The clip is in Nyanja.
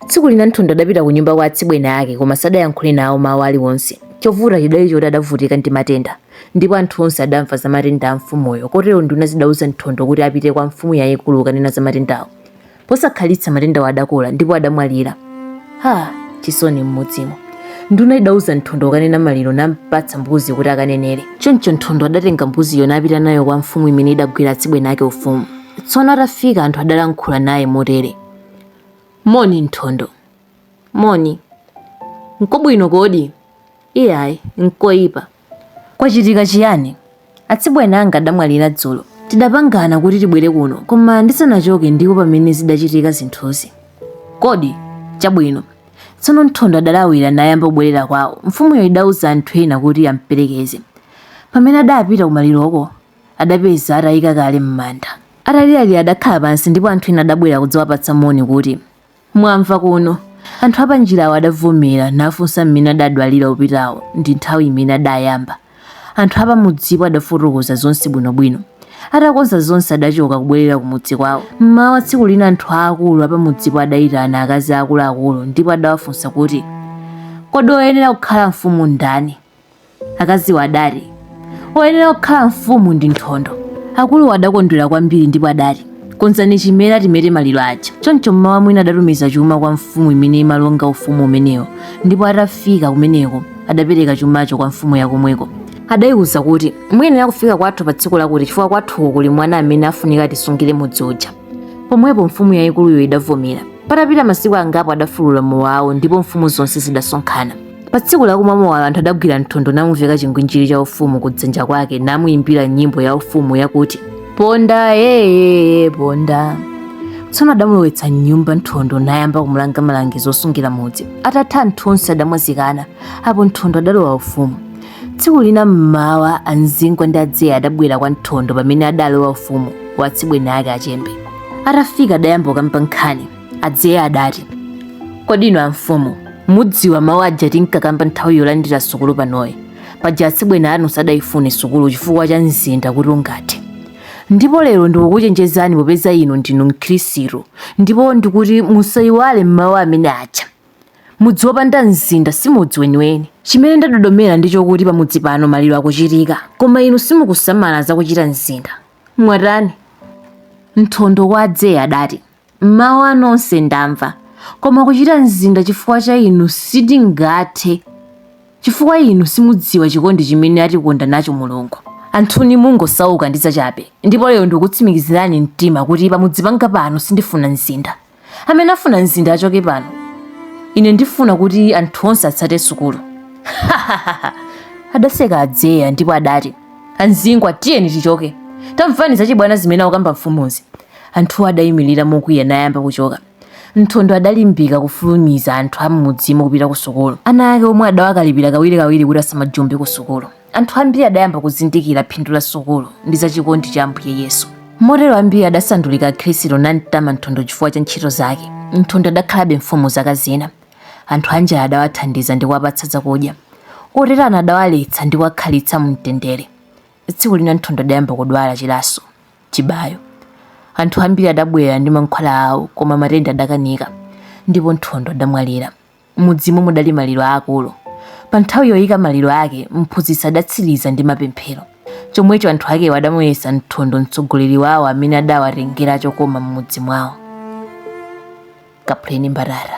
Tsiku lina Nthondo adapita kunyumba kwa atsibweni ake koma sadayankhule nawo mawu aliwonse. Chovuta chidali choti adavutika ndi matenda ndipo anthu onse adamva za matenda a mfumuyo kotero nduna zidauza Nthondo kuti apite kwa mfumu yaikulu kukanena za matendawo. Posakhalitsa matendawo adakula ndipo adamwalira. Ha! Chisoni m'mudzimo. Nduna idauza Nthondo kukanena maliro nampatsa mbuzi kuti akanenere. Choncho Nthondo adatenga mbuziyo napita nayo kwa mfumu imene idagwira atsibweni ake ufumu. Tsono atafika anthu adalankhula naye motere. Moni, Nthondo. Moni. Nkobwino kodi? Iyayi, nkoipa. Kwachitika chiyani? Atsibweni anga adamwalira dzulo. Tidapangana kuti tibwere kuno, koma ndisanachoke ndipo pamene zidachitika zinthuzi. Kodi? Chabwino. Tsono Nthondo adalawira nayamba kubwerera kwawo. Mfumuyo idauza anthu ena kuti amperekeze. Pamene adapita kumaliroko, adapeza atayika kale m'manda. Ataliralira adakhala pansi ndipo anthu ena adabwera kudzawapatsa moni kuti, Mwamva kuno! Anthu apanjirawo adavomera nafunsa mmene adadwalira opitawo ndi nthawi imene adayamba. Anthu apamudzipo adafotokoza zonse bwinobwino. Atakonza zonse adachoka kubwerera kumudzi kwawo. M'mawa tsiku lina anthu aakulu apamudzipo adayitana akazi aakuluakulu ndipo adawafunsa kuti, Kodi woyenera kukhala mfumu ndani? akaziwo adati oyenera kukhala mfumu ndi nthondo akuluwo adakondwera kwambiri ndipo adati konzani chimera timete maliro aja choncho mmawa mwina adatumiza chuma kwa mfumu imene imalonga ufumu umenewo ndipo atafika kumeneko adapereka chumacho kwa mfumu yakomweko adayiwuza kuti muyenera kufika kwathu pa tsiku lakuti chifukwa kwathuko kuli mwana amene afunika atisungire mudzi uja pomwepo mfumu yayikuluyo idavomera patapita masiku angapo adafulula mowawo ndipo mfumu zonse zidasonkhana Pa tsiku lakumwa mowalo anthu adagwira nthondo namuveka chingwinjiri cha ufumu kudzanja kwake namuimbira nyimbo ya ufumu yakuti ponda yeyeye ponda tsono adamulowetsa mnyumba nthondo nayamba kumulanga malangizo osungira mudzi atatha anthu onse adamwazikana apo nthondo adalowa ufumu tsiku lina mmawa amzingwa ndi adzeye adabwera kwa nthondo pamene adalowa ufumu wa atsibweni ake achembe atafika adayamba kukamba nkhani adzeye adati kodi inu amfumu mudziwa mawu aja tinkakamba nthawi yolandira sukulu panoyi paja atsibweni anu sadayifune sukulu chifukwa cha mzinda kuti ungathe ndipo lero ndikukuchenjezani popeza inu ndinu mkhristu ndipo ndikuti musayiwale mawu amene aja mudzi wopanda mzinda si mudzi weniweni chimene ndadodomera ndi chokuti pamudzi pano maliro akuchitika koma inu simukusamala zakuchita mzinda mwatani nthondo kwa adzeye adati Mawu anu onse ndamva, koma kuchita mzinda chifukwa cha inu sindingathe, chifukwa inu simudziwa chikondi chimene atikonda nacho Mulungu. Anthuni mungosauka ndi zachabe, ndipo lero ndikukutsimikizirani mtima kuti pamudzi panga pano sindifuna mzinda. Amene afuna mzinda achoke pano. Ine ndifuna kuti anthu onse atsate sukulu. Adaseka Adzeya ndipo adati, Anzingwa, tiyeni tichoke. Tamvani zachibwana zimene akukamba mfumuzi. Anthuwo adaimirira mokwiya nayamba kuchoka. Nthondo adalimbika kufulumiza anthu a m'mudzimo kupita kusukulu. Ana ake omwe adawakalipira kawirikawiri kuti asamajombe kusukulu. Anthu ambiri adayamba kuzindikira phindu la sukulu ndi za chikondi cha Ambuye Yesu. Motero ambiri adasandulika Akhristu namtama Nthondo chifukwa cha ntchito zake. Nthondo adakhalabe mfumu zaka zina. Anthu anjala adawathandiza ndi kuwapatsa zakudya. Oterana adawaletsa ndi kuwakhalitsa mumtendere. Tsiku lina Nthondo adayamba kudwala chilaso, chibayo. Anthu ambiri adabwera ndi mankhwala awo koma matenda adakanika ndipo Nthondo adamwalira. M'mudzimo mudali maliro aakulu. Pa nthawi yoika maliro ake, mphunzitsi adatsiriza ndi mapemphero. Chomwecho anthu akewo adamuyesa Nthondo mtsogoleri wawo amene adawatengera chokoma m'mudzi mwawo. Kaphuleni mbatata.